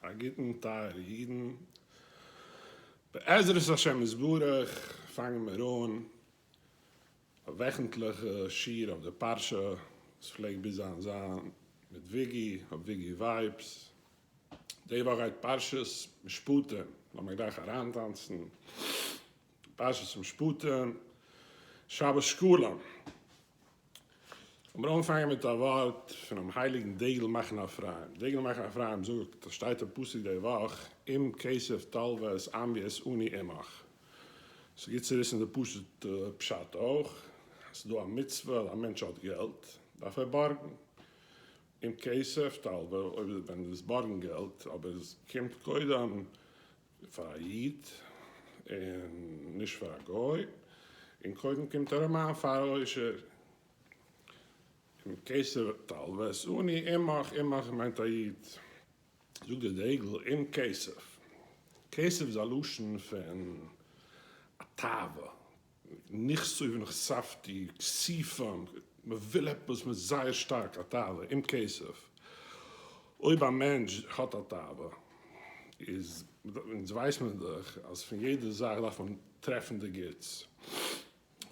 א גוטן טייערע אידן, בעזרת השם יתברך פאנגן מיר אן א וועכנטליכע שיעור אויף די פרשה, וואס פלעגט ביז היינט זיין מיט וויגי אויף וויגי ווייבס, די וואך גייט פרשת משפטים, לאמיר גלייך אריינטאנצן פרשת משפטים, שבת שקלים. לאמיר אנפאנגען מיט א ווארט פונעם הייליגן דגל מחנה אפרים. דגל מחנה אפרים זאגט, עס שטייט אין פסוק די וואך, אם כסף תלוה את עמי את אני עמך. ס'איז גוט צו וויסן די פשוט'ע פשט אויך, אז ס'איז דא א מצוה אז א מענטש האט געלט, דארף ער בארגן. אם כסף תלוה, אויב ווען ער איז בארגן געלט, אבער עס קומט קודם פאר א איד און נישט פאר א גוי, און קודם קומט א רמאן פאר א עושר, און כסף תלווית עני עמך, עמך מיינט א איד, זאגט דער דגל, עם כסף, כסף איז א לשון פון א תאווה, נכסי ונכספתי, כסיפון, מ'וויל עפעס מיט זייער שטארק א תאווה אין כסף, אויב א מענטש האט א תאווה, איז אונז ווייסט מען דאך אז פון יעדע זאך דארף מען טרעפן די גוטס,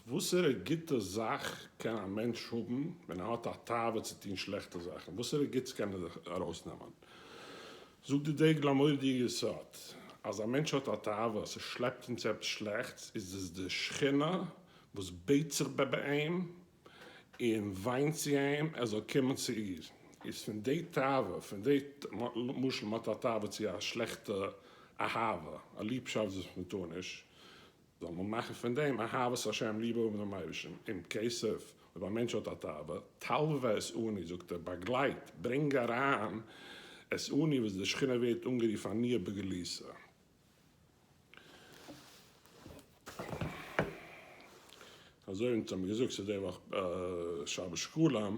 וואסערע גוטע זאך קען א מענטש האבן ווען ער האט א תאווה צו טון שלעכטע זאכן, וואסערע גוטס קען ער זיך ארויסנעמען? זאגט די דגל המודיע יסוד אז א מענטש האט א תאווה עס שלעפט אים צו עפעס שלעכטס איז עס די שכינה וואס בעט זיך בע ב אים און וויינט צו אים ער זאל קומען צו איר איז פון די תאווה פון די למשל מען האט א תאווה צו א שלעכטע אהבה א ליבשאפט וואס מען טאר נישט זאל מען מאכן פון דעם אהבת השם ליבע האבן דעם אייבערשטן אין כסף, אויב א מענטש האט א תאווה, תלוה את עני, זאגט ער, באגלייט, ברענג אריין, את עני וואס די שכינה ווערט אנגערופן עניה בגליסה. אזוי ווי אונז האבן געזאגט ס'איז די וואך שבת שקלים.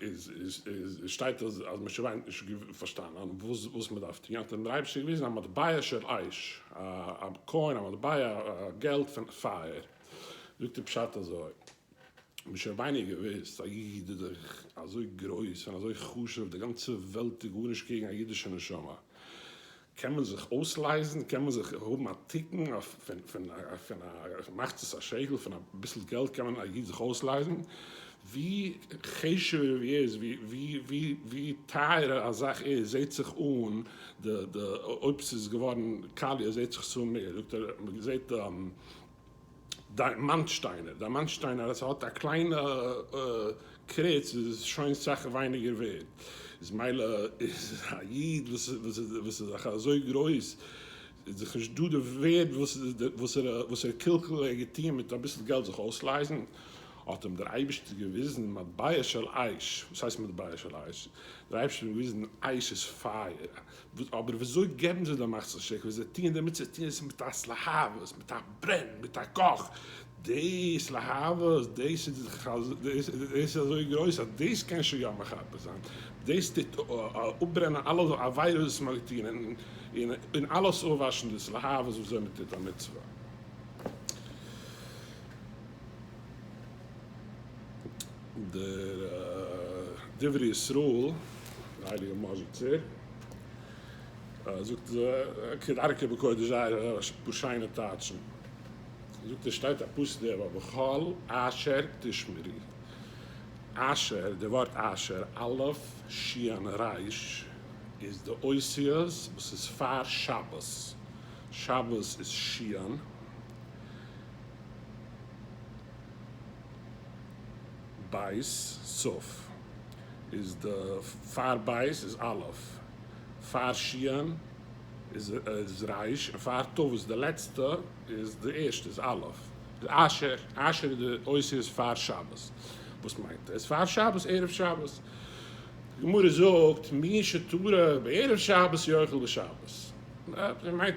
איז שטייט אז משה וויינט נישט געוואוסט פארשטאנען וואס מען דארף טון האט אים דער אייבערשטער געוויזן א מטבע של אש א קוין א מטבע געלט פון פייער זאגט ער פשט אזוי משה וויינט נישט געוואוסט א איד איז דאך אזוי גרויס און אזוי חשוב די גאנצע וועלט איז גארנישט קעגן א אידישע נשמה. קען מען זיך אויסלייזן? קען מען זיך האבן א תיקון פון א מחצית השקל? פון אביסל געלט קען מען א איד זיך אויסלייזן? ווי חשוב ער איז, ווי טייערער א זאך איז, זעט זיך אן די אויב ס'איז געווארן קאליע זעט זיך עס אן מער, זאגט ער, מ'זעט די. דיימאנט שטיינער, דיימאנט שטיינער אז ס'האט א קליינע קריץ איז שוין סאך ווייניגער ווערד, איז מילא איז א איד וואס איז זיך אזוי גרויס איז דאך נישט דא די ווערד וואס ער קלקל ער געטוען מיט אביסל געלט זיך אויסלייזן, האט אים דער אייבישטער געוויזן מטבע של אש, וואס הייסט מטבע של אש? דער אייבישטער האט אים געוויזן אש איז פייער, אבער וויאזוי געבן זיי די מצות שכ ווי זיי טוען די מצוות טוען זיי עס מיט א התלהבות מיט א ברען מיט א קאך דאס להבות דאס איז אזוי גרויס אז דאס קען שוין יא מכבה זיין דאס טוט אפברענען אלע עבירות וואס מען האט געטון און אלעס אויפוואשן דאס להבות וואס זיי האבן געטון די מצוה. דער דברי ישראל, דער הייליגער מזל טוב, זאגט כדרכו בקודש זייער א פאר שיינע טייטשן, זאגט ער שטייט א פסוק דער וואך בכל אשר תשמרי, אשר, דער ווארט אשר, אלף, שיען, ריש, איז די אותיות וואס איז פאר שבת, שבת איז שיען, בית סוף איז די פאר בית איז אלף, פאר שיען איז ריש, און פאר טבת די לעצטע איז די ערשטע איז אלף. אשר אשר איז די אותיות פאר שבת, וואס מיינט עס פאר שבת ערב שבת? די גמרא זאגט מי שתרעב ערב שבת יאכל בשבת, מיינט.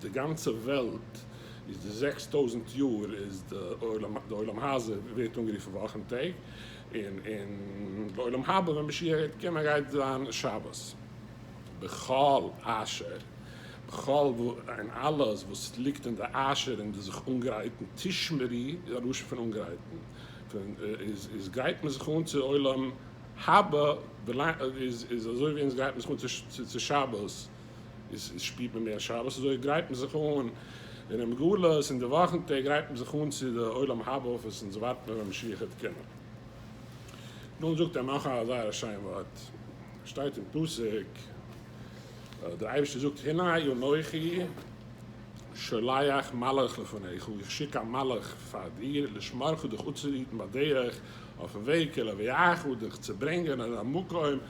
די גאנצע וועלט איז די זעקס טויזנט יאר איז די עולם, די עולם הזה ווערט אנגערופן וואכן טעג, און און די עולם הבא ווען משיח גייט קומען גייט זיין שבת. בכל אשר, בכל אין אלעס וואס ליגט אין די אשר אין די זיך אנגרייטן, תשמרי איז א לשון פון אנגרייטן, פון איז איז גרייט מען זיך אן צו עולם הבא, איז איז אזוי ווי אונז גרייט מען זיך אן צו שבת, איז שפירט מען מער שבת אזוי גרייט מען זיך אן אינעם גלות און די וואכן טעג גרייט מען זיך אן צו די עולם הבא וואס אונז ווארט מיר ווען משיח העט קומען. דאן זאגט ער נאך א זייער א שיין ווארט שטייט אין פסוק דער אייבערשטער זאגט הנה אנכי שולח מלאך לפניך איך שיק א מלאך פאר דיר לשמרך דיך אפצוהיטן בדרך אויפן וועג כלא ויעכו דיך צו ברענגען און א מקום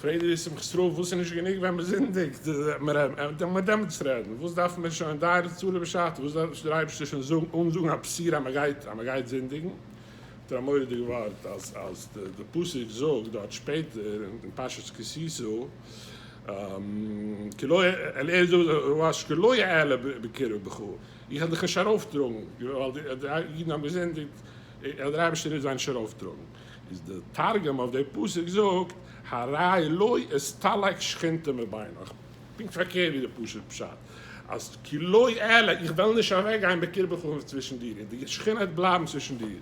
פרעגט ר' שמחה סרול, וואס איז נישט גענוג ווען מען זינדיגט? דארף מען עמעץ רעדן? וואס דארפן מיר שוין די רצו לו בשעתו? וואס דארף נישט דער אייבערשטער שוין זאגן אנזאגן א בשורה אז מען גייט אז מען גייט זינדיגן? האט ער א מורא'דיג ווארט אז די פסוק זאגט דארט שפעטער אין פרשת כי תשא כי לא אעלה ער זאגט רבש ע כי לא אעלה בקרבך איך וועל דיך נישט ארויפטראגן ווייל די אידן האבן געזינדיגט און דער אייבערשטער וועט זיי נישט ארויפטראגן. איז די תרגום אויף די פסוק זאגט הרי לא אסתלק שכינתא מבינך, פונקט פארקערט ווי די פשוט פשט, אז כי לא אעלה, איך וועל נישט אוועק גיין בקרבך און צווישן דיר, און די שכינה וועט בלייבן צווישן דיר.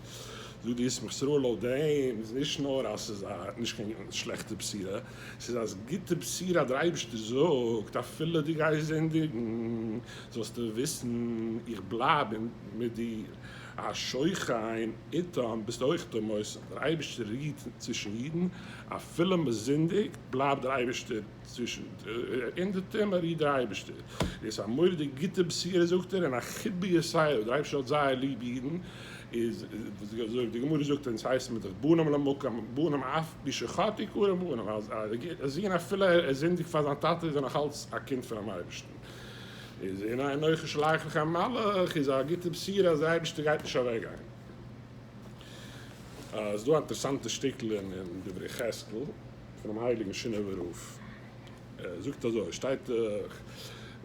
זאגט די ישמח ישראל לויט דעם איז נישט נאר אז ס'איז א נישט קיין שלעכטע בשירה, ס'איז א גוטע בשירה אז דער אייבערשטער זאגט אפילו דו גייסט זינדיגן זאלסטו וויסן איך בלייב מיט דיר, א שוכן איתם ביסט אויך דער מוסד, דער אייבערשטער רוהט צווישן אידן, אפילו מען זינדיגט בלייבט דער אייבערשטער צווישן אינדערטום, ער רוהט דער אייבערשטער, איז א מורא'דיג גוטע בשורה זאגט ער, און א חיבה ישראלית, דער אייבערשטער האט זייער ליב אידן, איז ווי די גמרא זאגט און עס הייסט מען דאך בנים למקום, בנים אף בי שחטא קרא בנים, א זון אפילו ער זינדיגט פאר זיין טאטע איז ער נאך אלץ א קינד פונעם אייבערשטן. איז אין איין אויך שלח לך מלאך איז א גוטע בשורה אז די אייבערשטער גייט נישט אוועק גיין. ס'איז דא א אינטערעסאנטע שטיקל אין דברי חזקל פונעם הייליגן שינאווער רב, ער זאגט אזוי, שטייט דאך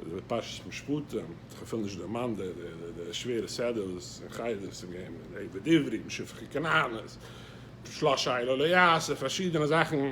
די פרשת משפטים, כ'פיל נישט דערמאנט די שווערע סדר וואס אין חי ד עס איז געווען מיט די עבד עברי, משפחה כנענית, שלשה אלה לא יעשה, פארשידענע זאכן,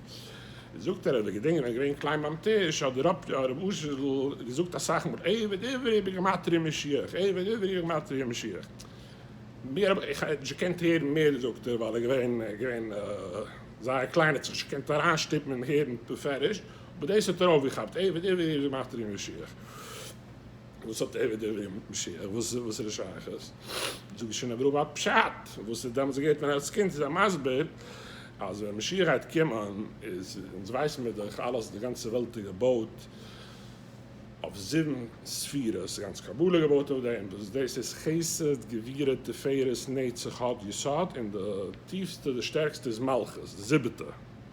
זאגט ער אז ער געדענקט נאך געווען קליין ביים טיש האט דער רב הרב אשר ז ל געזאגט אסאך מאל עבד עברי בגימטריא משיח עבד עברי בגימטריא משיח מיר האב איך נישט געקענט הערן מער זאגט ער ווייל ער געווען געווען זייער קליין האט זיך נישט געקענט אריינשטופן און הערן בפירוש אבער דאס האט ער אויפגעכאפט עבד עברי בגימטריא משיח. וואס האט ער ווידעראום משיח? וואס איז די שייכות? זאג איז שוין א גראבע פשט וואס איז דעמאלטס געהערט ווען אלס קינד איז ער מסביר אז ווען משיח גייט קומען איז אונז ווייסן מיר דאך אלעס די גאנצע וועלט איז געבויט אויף זיבן ספירות די גאנצע קבלה איז געבויט אויף דעם וואס דאס איז חסד גבירה תפארת נצח הוד יסוד און די טיפסטע די שטערקסטע איז מלכות די זיבעטע.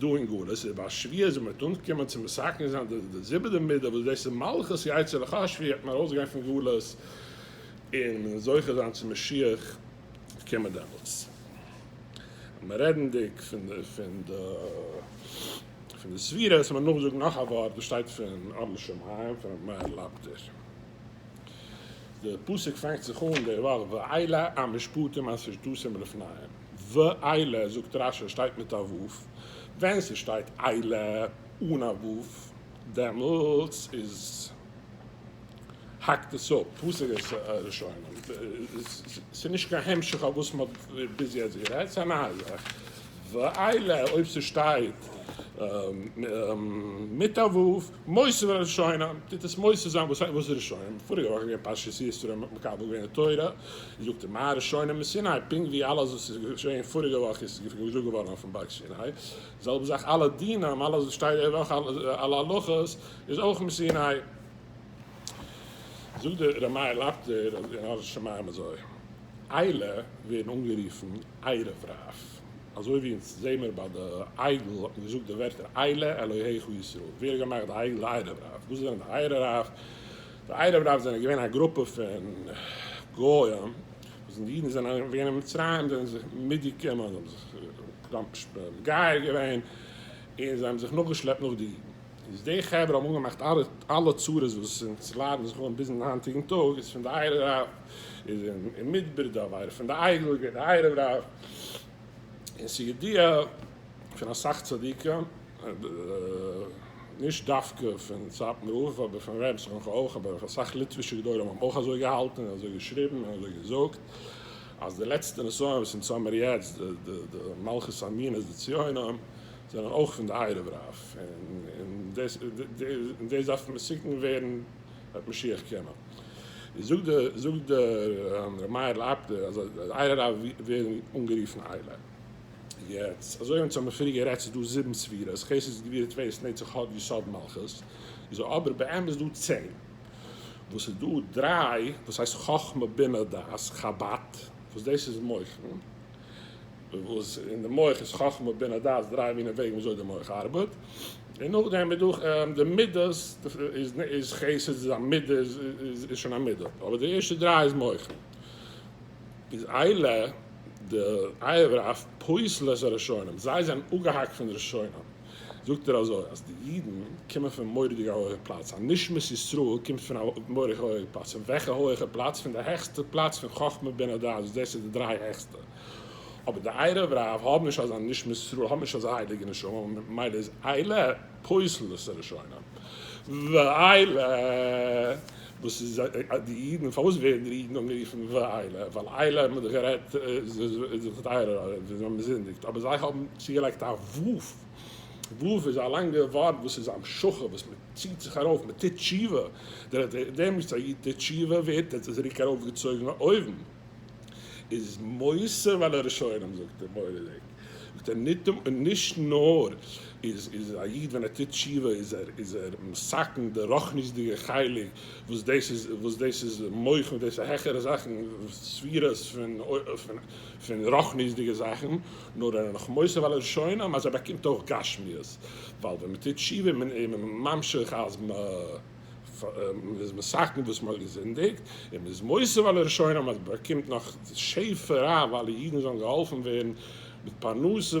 דא אין גלות איז ביי שביעית זעמער מיט אנגעקומען צו מסכן זיין די זיבעטע מידה וואס דאס איז מלכות יצר הרע השביעי האט מען ארויס גיין פון גלות און מען זוכה זיין צו משיח קומען דעמאלטס מען רעדענדיג פון די פון די ספירה עס מען נאך זאגן נאך א ווארט וואס שטייט פון אור לשמים פון רבי מאיר לאפטער די פסוק פאנגט זיך אן דערווייל ואילה המשפטים אשר תשים לפניהם. ואילה זאגט רש י שטייט מיט א ו', ווען ס'שטייט אילה אן א ו' דעמאלטס איז האקט עס אפ, פסק עס ראשונים, ס'איז נישט קיין המשך אויף וואס מ'האט ביז יעצט גערעדט, ס'איז א נייע זאך, ואילה אויב ס'שטייט מיט א ו' מוסר בין הראשונים, טוט עס מוסר זיין, וואס הייסט וואס איז ראשונים? פאריגע וואך איז געווען פרשת יתרו מען האט מקבל געווען די תורה, זאגט ער מה הראשונים מסיני, פונקט ווי אלעס וואס איז געשעהן פאריגע וואך איז געזאגט געווארן אויפן בארג סיני, זעלבע זאך אלע דינים אלעס וואס שטייט די וואך אלע הלכות איז אויך מסיני. זאגט דער רמאי לאפטער אז אין ארץ שמים אזוי איילע ווערן אנגערופן ערב רב. אזוי ווי אונז זעהן מיר ביי די עגל האט מען געזאגט די ווערטער אלה אלהיך ישראל, ווער האט געמאכט די עגל די ערב רב, וואס זענען די ערב רב, די ערב רב זענען געווען א גרופע פון גוים, וואס ווען די אידן זענען געווען אין מצרים זענען זיי מיטגעקומען, זיי האבן זיך קראנק שפעט געווען, און זיי האבן זיך נאכגעשלעפט נאך די אידן. איז די חברה האבן אנגעמאכט אלע צרות וואס אונז ליידן זיך אן ביזן היינטיגן טאג, איז פון די עיירע רב, איז אין מדבר די עבירה פון די עגל, געווען די עיירע רב, און ס'איז ידיעה פון אסאך צדיקים, נישט דווקא פון סאטמאר רב אבער פון ר' שמחה אויך, אבער אויף אסאך ליטווישע גדולים האבן אויך אזוי געהאלטן און אזוי געשריבן און אזוי געזאגט, אז די לעצטע נסיון וואס אונז האמיר יעצט די מלכות המינות די ציונים, זענען אויך פון די ערב רב, און און דאס דארף מסוכן ווערן בעת משיח קומען. איז זאגט די זאגט די ר' מאיר לייב די אז די ערב רב ווערן אנגערופן עלה. יעצט אזוי ווי אונז האמיר פריער גערעדט ס'איז דא זיבן ספירות, חסד גבורת טפלות נצח הוד יסוד מלכות, איז אבער באמת איז דא צען, וואס איז דא דריי וואס הייסט חכמה בינה דעת חבד, וואס דאס איז מוחין, וואס אין די מח איז חכמה בינה דעת דריי מינע וועגן וויאזוי די מח ארבעט, און נאכדעם איז דא די מידות איז חסד איז א מידה איז שוין א מידה אבער די ערשטע דריי איז מח איז אלה די עבר אויף פוסלות הראשונים זיי זענען אפגעהאקט פון די ראשונים זאגט ער אזוי אז די אידן קומען פון מוראדיג א הויעכע פלאץ א נשמת ישראל קומט פון א מוראדיג הויעכע פלאץ פון וועלכע הויעכע פלאץ פון די העכסטע פלאץ פון חכמה בינה דעת וואס דאס איז די דריי העכסטע. אבער די עירוב רב האבן נישט אזא נשמת ישראל, האבן נישט אזא הייליגע נשמה, ממילא איז עילה פוסל את הראשונים. ועילה, וואס איז די אידן, פארוואס ווערן די אידן אנגערופן ועילה? ווייל עילה האט מען דאך גערעדט איז דאך די עירוב רב, זיי האבן געזינדיגט, אבער זיי האבן צוגעלייגט א ו', ו' איז א לאנגע ווארט וואס איז המשכה, וואס מען ציט זיך ארויף, מען טוט תשובה, דער דעם וואס א איד טוט תשובה ווערט ער צוריק ארויפגעצויגן אויבן. איז מוסר ועל הראשונים זאגט ער מוראדיג זאגט ער ניטאמ און נישט נאר איז איז א איד ווען ער טוט תשובה איז ער איז ער מסכן די רוחניות'דיגע חלק וואס דאס איז וואס דאס איז מוחמ דאס איז העכערע זאכן ספירות פון פון פון רוחניות'דיגע זאכן נאר ער איז נאך מוסר ועל הראשונים אז ער באקומט אויך גשמיות ווייל ווען מען טוט תשובה איז מען ממשיך אז מען מען איז מסכן וואס מען האט געזינדיגט, און מען איז מוסיף על הראשונה, מען באקומט נאך שפע רב, אלע אידן זאלן געהאלפן ווערן מיט פרנסה,